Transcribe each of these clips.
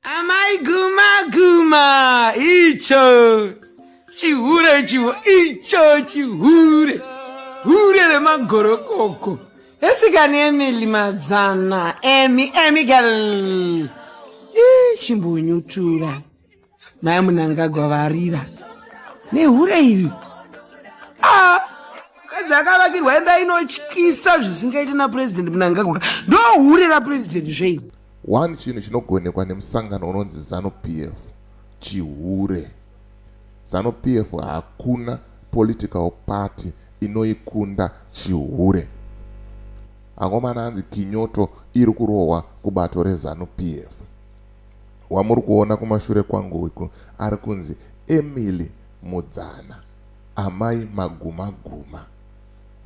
Amai guma guma icho chihure chivo icho chihure hure remagorokoko esikani emili madzana emi emi gal chimbunyutura mai munangagwa varira nehure iri ah, kadzi akavakirwa imba inotyisa zvisingaiti napurezidendi munangagwa ndohure rapurezidendi zveini One chinhu chinogonekwa nemusangano unonzi Zanu PF chihure. Zanu PF hakuna political party inoikunda chihure. Angomana anzi kinyoto iri kurohwa kubato reZanu PF. Wamuri kuona kumashure kwangu uku ari kunzi Emily Mudzana, amai magumaguma.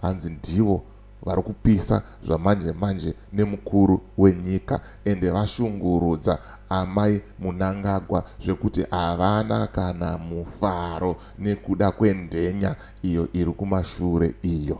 Hanzi ndivo vari kupisa zvamanje manje nemukuru wenyika ende vashungurudza amai Munangagwa zvekuti havana kana mufaro nekuda kwenhenya iyo iri kumashure iyo.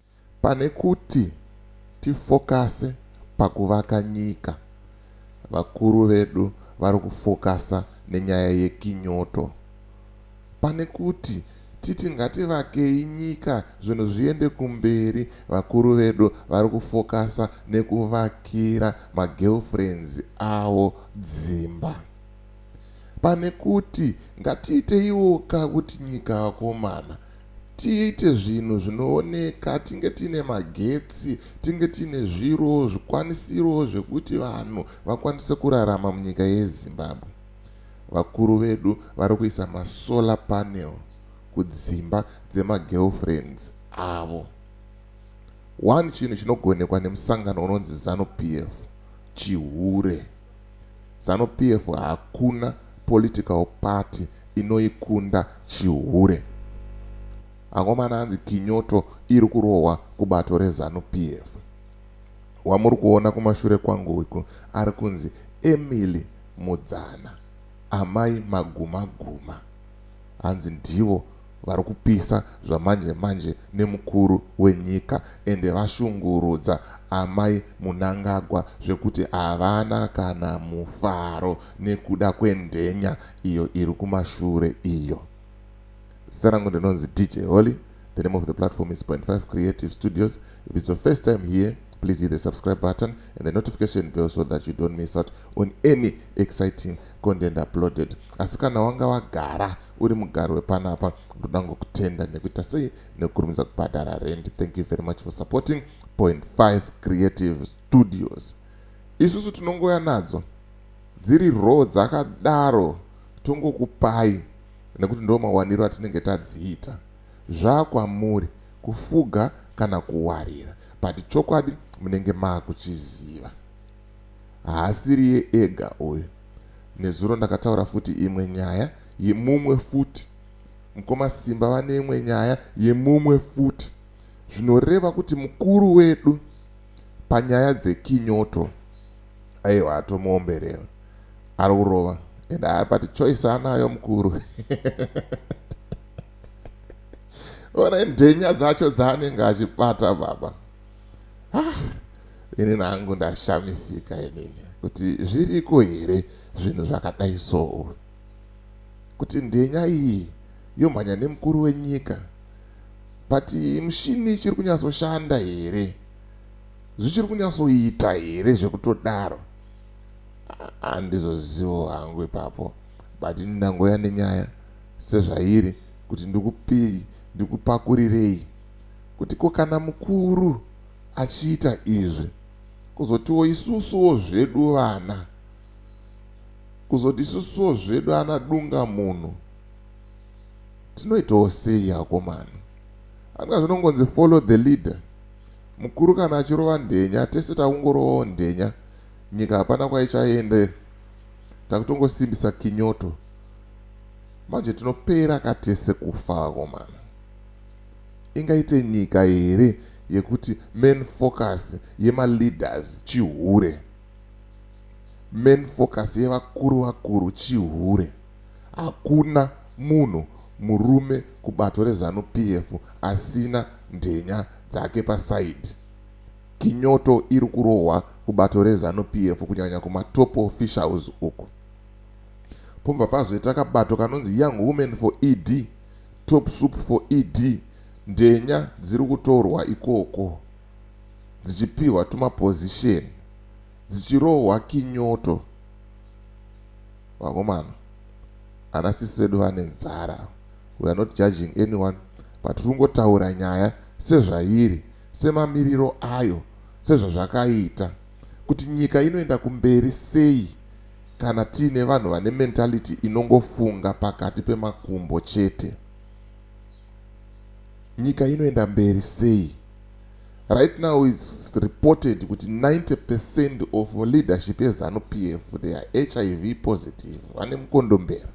Pane kuti tifokase pakuvaka nyika, vakuru vedu vari kufokasa nenyaya yekinyoto. Pane kuti titi ngativakei nyika zvinhu zviende kumberi, vakuru vedu vari kufokasa nekuvakira magirlfriends avo dzimba. Pane kuti ngatiiteiwoka kuti nyika vakomana. tiite zvinhu zvinooneka tinge tiine magetsi tinge tiine zviro zvikwanisiro zvekuti vanhu vakwanise kurarama munyika yezimbabwe vakuru vedu vari kuisa masolar panel kudzimba dzemagirlfriends avo one chinhu chinogonekwa nemusangano unonzi zanu p f chihure Zanu PF hakuna political party inoikunda chihure. Angomana anzi kinyoto iri kurohwa kubato reZanu PF. Wamuri kuona kumashure kwangu uku ari kunzi Emily Mudzana, Amai Magumaguma. hanzi ndivo varikupisa zvamanje manje nemukuru wenyika ende vashungurudza amai Munangagwa zvekuti havana kana mufaro nekuda kwendhenya iyo iri kumashure iyo. Zita rangu ndinonzi DJ Holy. The name of the platform is Point Five Creative Studios. If it's your first time here, please hit the subscribe button and the notification bell so that you don't miss out on any exciting content uploaded asi kana wanga wagara uri mugari wepanapa ndoda ngokutenda nekuita sei nekukurumidza kubhadhara rent thank you very much for supporting point 5 creative studios isusu tinongouya nadzo dziri row dzakadaro tongokupai nekuti ndo mawaniro atinenge tadziita zvaakwamuri kufuga kana kuwarira but chokwadi munenge maakuchiziva haasiriye ega uyu nezuro ndakataura futi imwe nyaya yemumwe futi mkoma Simba vane imwe nyaya yemumwe futi zvinoreva kuti mukuru wedu panyaya dzekinyoto aiwa atomuomberera ari kurova and aya but choice anayo mukuru one ndhenya dzacho dzaanenge achibata baba ah, ini nangu ndashamisika inini kuti zviriko here zvinhu zvakadai soo kuti ndhenya iyi yomhanya nemukuru wenyika but mushini ichiri kunyatsoshanda here zvichiri kunyatsoita here zvekutodaro handizozivo hangu ipapo but ini ndangoya nenyaya sezvairi kuti ndikupei ndikupakurirei kuti ko kana mukuru achiita izvi kuzotiwo isusuwo zvedu vana kuzoti isusuwo zvedu ana dunga munhu tinoitawo sei akomana anga zvinongonzi follow the leader mukuru kana achirova ndhenya tese takungorovawo ndhenya nyika hapana kwaichaendera takutongosimbisa kinyoto Manje tinopera ka tese kufa vakomana. Ingaite nyika here yekuti main focus yema leaders chihure. Main focus yevakuru vakuru chihure. Hakuna munhu murume kubato re Zanu PF asina ndhenya dzake pa side. Kinyoto iri kurohwa kubato re Zanu PF kunyanya kuma top officials uku. pobva pazoita kabato kanonzi young women for ED, top soup for ED, ndenya dziri kutorwa ikoko dzichipihwa tumapozisheni dzichirohwa kinyoto. Vakomana, ana sisi vedu vane nzara. We are not judging anyone but tiri kungotaura nyaya sezvairi, semamiriro ayo, sezvazvakaita kuti nyika inoenda kumberi sei. Kana tiine vanhu vane mentality inongofunga pakati pemakumbo chete, nyika inoenda mberi sei? Right now it's reported kuti 90 percent of leadership yeZanu PF they are HIV positive, vane mukondombera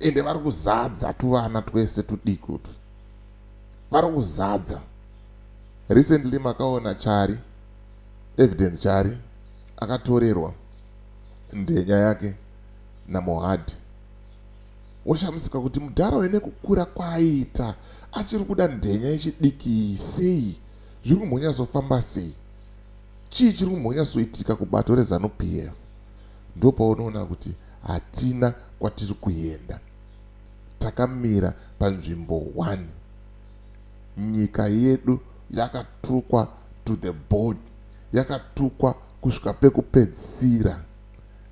ende vari kuzadza tuvana twese tudiki utwu vari kuzadza recently makaona chari evidence chari akatorerwa Ndenya yake naMohad washamisika kuti mudhara uyu nekukura kwaaita achiri kuda ndenya yechidiki sei? Zviri kumbonyatsofamba sei? Chii chiri kumbonyatsoitika kubato reZanu PF? Ndopaunoona kuti hatina kwatiri kuenda. Takamira panzvimbo one. Nyika yedu yakatukwa to the bone. yakatukwa kusvika pekupedzisira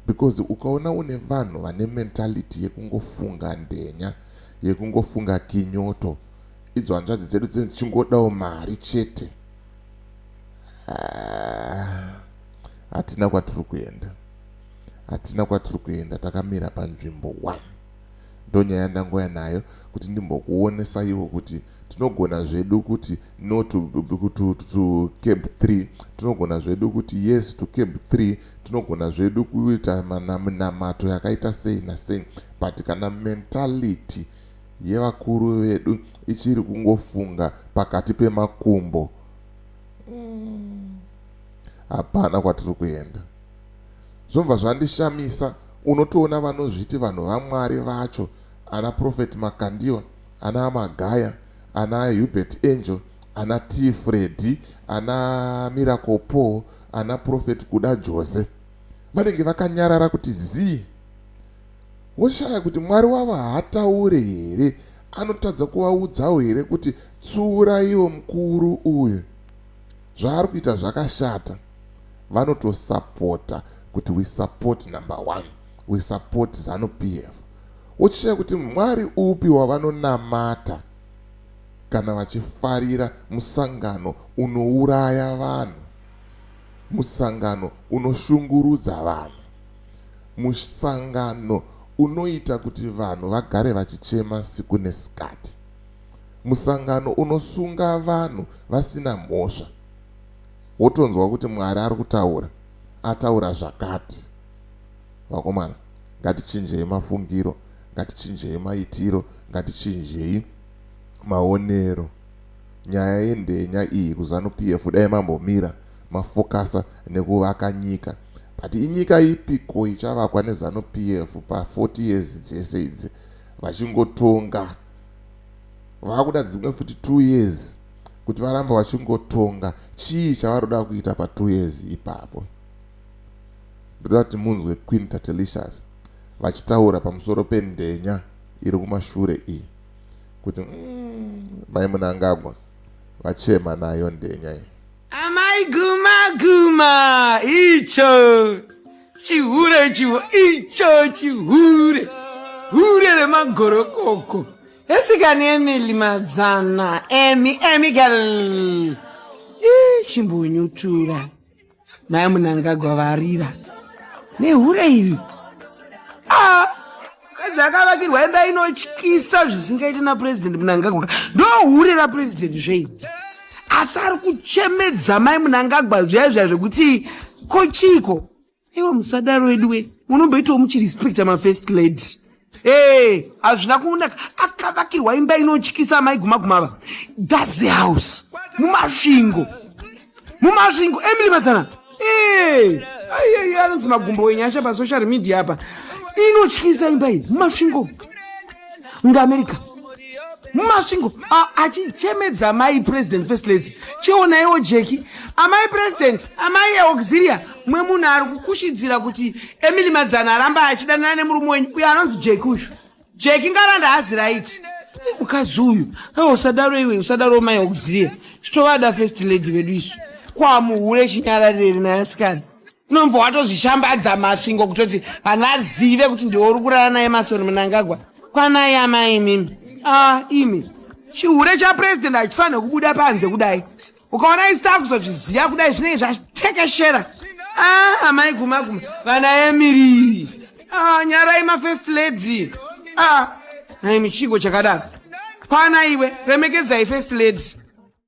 because ukaona une vanhu vane mentality yekungofunga ndenya yekungofunga kinyoto idzo hanzvadzi dzedu dzinenge dzichingodawo mari chete ah, hatina kwatiri kuenda hatina kwatiri kuenda takamira panzvimbo one ndonyaya yandangouya nayo kuti ndimbokuonesaiwo kuti tinogona zvedu kuti no to, to, to, to cab 3 tinogona zvedu kuti yes to cab 3 tinogona zvedu kuita minamato yakaita sei nasei but kana mentality yevakuru vedu ichiri kungofunga pakati pemakumbo mm, hapana mm, kwatiri kuenda zvobva zvandishamisa unotoona vanozviti vanhu vaMwari vacho ana Prophet Makandiwa ana Amagaya ana Hubert Angel ana T Freddy ana Miracle Paul ana Prophet Kuda Jose vanenge vakanyarara kuti zii woshaya kuti Mwari wavo haataure here anotadza kuvaudzawo here kuti tsiuraiwo mukuru uyu zvaari kuita zvakashata vanotosapota kuti we support number one we support zanu PF wochishaya kuti Mwari upi wavanonamata kana vachifarira musangano unouraya vanhu musangano unoshungurudza vanhu musangano unoita kuti vanhu vagare vachichema siku nesikati musangano unosunga vanhu vasina mhosva wotonzwa kuti Mwari ari kutaura ataura zvakati. Vakomana ngatichinjei mafungiro, ngatichinjei maitiro, ngatichinjei maonero. Nyaya yendenya iyi kuZanu PF dai mambomira mafokasa nekuvaka nyika. But inyika ipiko ichavakwa neZanu PF pa 40 years dzese idzi vachingotonga. Vakuda dzimwe futi 2 years. kuti varamba vachingotonga chii chavaroda kuita pa two years ipapo ndoda kuti munzwe queen tatelicious vachitaura pamusoro pendenya iri kumashure iyi kuti mm, mai munangagwa vachema nayo ndenya iyi amai guma guma icho chihure chivo icho chihure hure remagorokoko Esikani Emily Madzana. Emi, Emi girl. Ih, chimbonyutura. Mai Munangagwa varira. Nehure iri. Ah, kadzi akavakirwa imba inotyisa zvisingaiti naPresident Munangagwa. Ndohure raPresident zvei. Asi ari kuchemedza mai Munangagwa zviya zviya zvekuti kochiko. Iwo musadaro weduwe munomboitawo muchirespecta mafirst lady ee hazvina kunaka akavakirwa imba inotyisa amai gumaguma ava thats the house mumasvingo mumasvingo emily mazana ee aiyeyo anonzi magumbo wenyasha pasocial media apa inotyisa imba iyi mumasvingo ngaamerica mumasvingo achichemedza mai president first lady chionaiwo jeki amai president amai auxilia mwe munhu ari kukushidzira kuti emily madzana aramba achidanana nemurume wenyu uyo anonzi jeki uyu jeki ngaranda hazi right mukadzi uyu a usadaro iwe usadaro mai auxilia chitovada first lady vedu isu kwamuhure chinyararire nayo sikana unombva watozvishambadza masvingo kutoti vanhu vazive kuti ndiwe uri kurara naye masoni munangagwa kwanai amai imimi ah imi chihure chapurezidendi hachifanire kubuda panze kudai ukaona isi takuzozviziva kudai zvinenge zvatekeshera ah amai guma guma vana emiri ah nyarai mafirst lady ah naimi chigo chakadaro kwana iwe remekedzai first lady